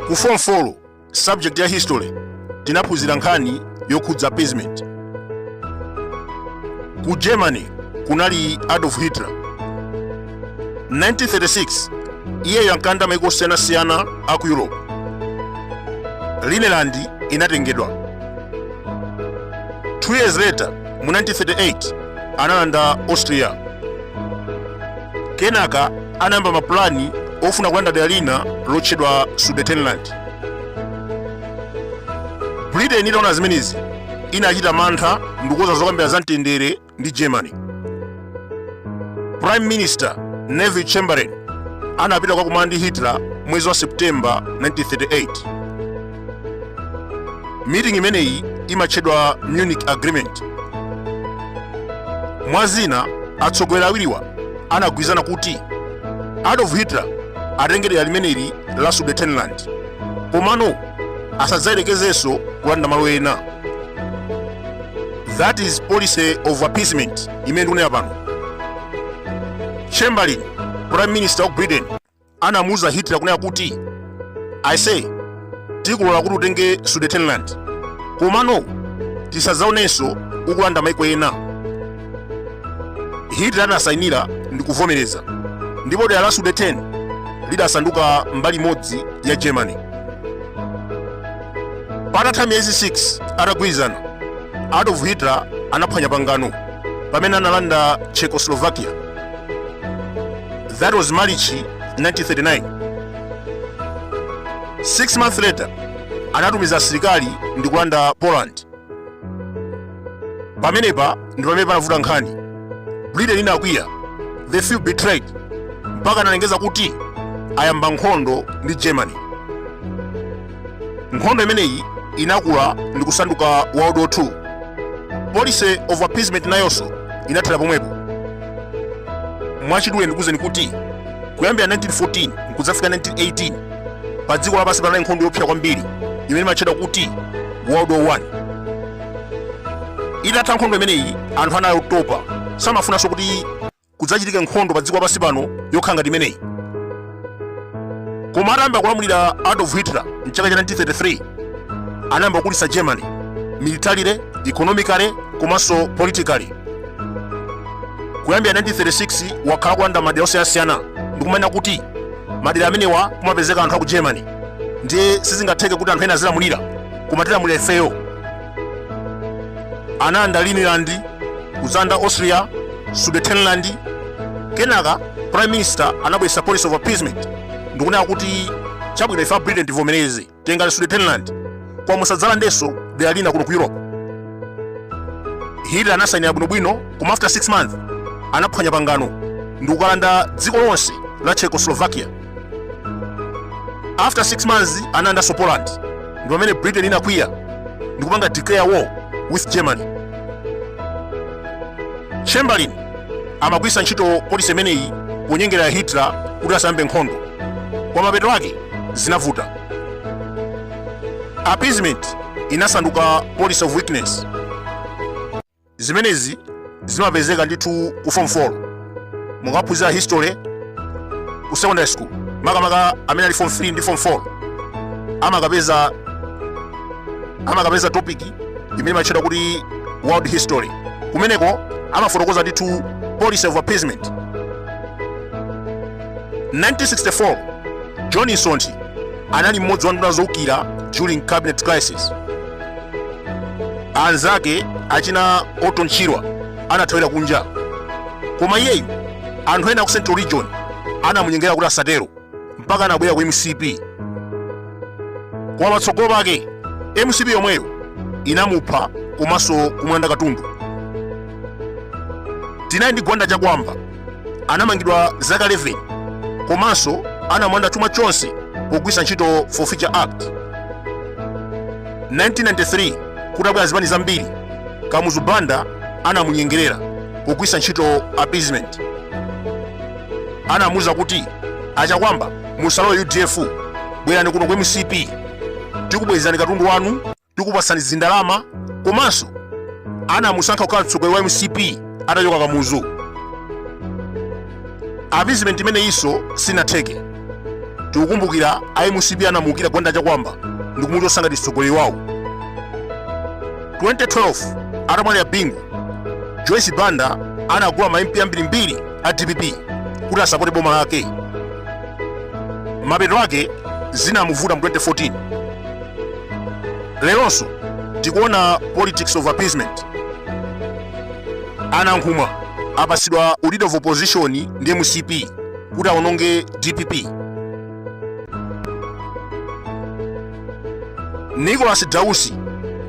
ku form 4 subject ya history tinaphunzira nkhani yokhudza appeasement ku germany kunali adolf hitler 1936 iyeyo ankalanda maiko osiyanasiyana a ku europe rhineland inatengedwa 2 years later mu 1938 analanda austria kenaka anayamba mapulani ofuna kulanda dera lina lotchedwa sudetenland britain itaona zimenezi inachita mantha ndikukonza zokambira za mtendere ndi germany prime minister neville chamberlain anapita kukakumana ndi hitler mwezi wa september 1938 meeting imeneyi imatchedwa munich agreement mwa zina atsogoleri awiriwa anagwirizana kuti adolf hitler atenge dera limeneli la sudetenland komano asadzayerekezenso kulanda malo ena that is policy of appeasement imene ndikunena pano chamberlain prime minister of britain anamuuza hitler kunena kuti ise tikulola kuti utenge sudetenland komano tisadzaonenso ukulanda maiko ena hitler anasainira ndi kuvomereza ndipo dera la sudeten lidasanduka mbali imodzi ya germany patatha miyezi 6 atagwirizana adolf hitler anaphwanya pangano pamene analanda czechoslovakia that was march 1939 six months later anatumiza asilikali ndi kulanda poland pamenepa ndi pamene panavuta nkhani britain inakwiya they felt betrayed mpaka analengeza kuti ayamba nkhondo ndi germany nkhondo imeneyi inakula ndi kusanduka world war 2 policy of appeasement nayonso inathera pomwepo mwachidule ndikuuzeni kuti kuyambira 1914 nkudzafika 1918 pa dziko lapansi panali nkhondo yopsa kwambiri imene imatchedwa kuti world war 1 itatha nkhondo imeneyi anthu anali otopa samafunanso kuti kudzachitike nkhondo pa dziko lapansi pano yokhala ngati imeneyi koma atayamba kulamulira adolf hitler mchaka cha 1933 anayamba kukulitsa germany militarily economically komanso politically kuyambira 1936 wakhala kulanda madera osiyanasiyana ndikumanena kuti madera amenewa kumapezeka anthu a ku germany ndiye sizingatheke kuti anthu ena azilamulira koma tilamulira ifeyo analanda Rhineland kudzalanda Austria Sudetenland kenaka prime minister anabweretsa policy of appeasement ndikunena kuti chabwino ife a Britain tivomereze tengani Sudetenland koma musadzalandenso dera lina kuno ku Europe Hitler anasainira bwinobwino koma after 6 months anaphwanya pangano ndikukalanda dziko lonse la Czechoslovakia after 6 months analandanso poland ndi pamene britain inakwiya ndikupanga declare war with germany chamberlain amagwiritsa ntchito policy imeneyi kunyengerera hitler kuti asayambe nkhondo koma mapeto ake zinavuta appeasement inasanduka policy of weakness zimenezi zimapezeka ndithu ku form 4 mukaphunzira history ku secondary school makamaka amene ali form 3 ndi form 4 amakapeza topic imene imatchedwa kuti world history kumeneko amafotokoza ndithu policy of appeasement 1964 john msonthi anali mmodzi wa nduna zoukira during cabinet crisis anzake achina Orton Chirwa anathawira kunja koma iyeyu anthu ena ku Central Region anamunyengerera kuti asatero mpaka anabwera ku MCP koma patsogolo pake MCP yomweyo inamupha komanso kumulanda katundu tinali ndi gwanda chakwamba anamangidwa zaka 11 komanso anamulanda chuma chonse pogwiritsa ntchito forfeiture act 1993 kutabwera zipani zambiri kamuzu banda anamunyengerera pogwiritsa ntchito appeasement anamuuza kuti achakwamba musalowe udf bwerani kuno ku mcp tikubwezerani katundu wanu tikupatsani ndalama komanso anamusankha kukhala mtsogoleri wa mcp atachoka kamuzu appeasement imeneyinso sinatheke tikukumbukira a mcp anamuukira gwanda chakwamba ndikumuchotsa ngati mtsogoleri wawo 2012 atamwalira bingu joyce banda anagula ma mp ambirimbiri a dpp kuti asapote boma lake mapeto ake zinamuvuta mu 2014 leronso tikuona politics of appeasement a nankhumwa apasidwa leader of opposition ndi mcp kuti awononge dpp nicholas dausi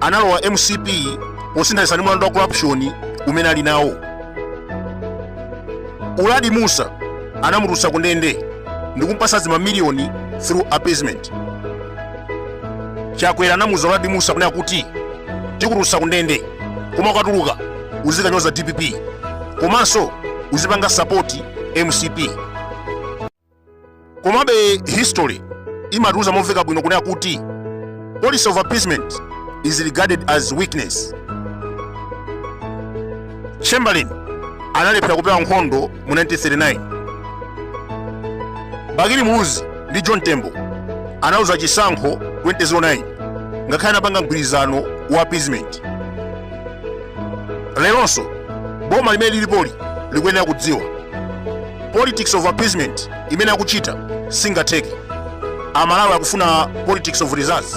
analowa mcp posinthanitsa ndi mlandu wa corruption umene ali nawo uladi musa anamutulutsa kundende ndikumpasa dzimamiliyoni through appeasement chakwera anamuuza uladi musa kunena kuti tikutulutsa ku ndende koma ukatuluka uzikanyoza dpp komanso uzipanga sapoti mcp komabe history imatiuza momveka bwino kunena kuti policy of appeasement is regarded as weakness chamberlain analephera kupewa nkhondo mu 1939 bakili muluzi ndi john tembo analuza chisankho 2009 ngakhale anapanga mgwirizano wa appeasement leronso boma limene lilipoli likuyenera kudziwa politics of appeasement imene akuchita singatheke amalawi akufuna politics of results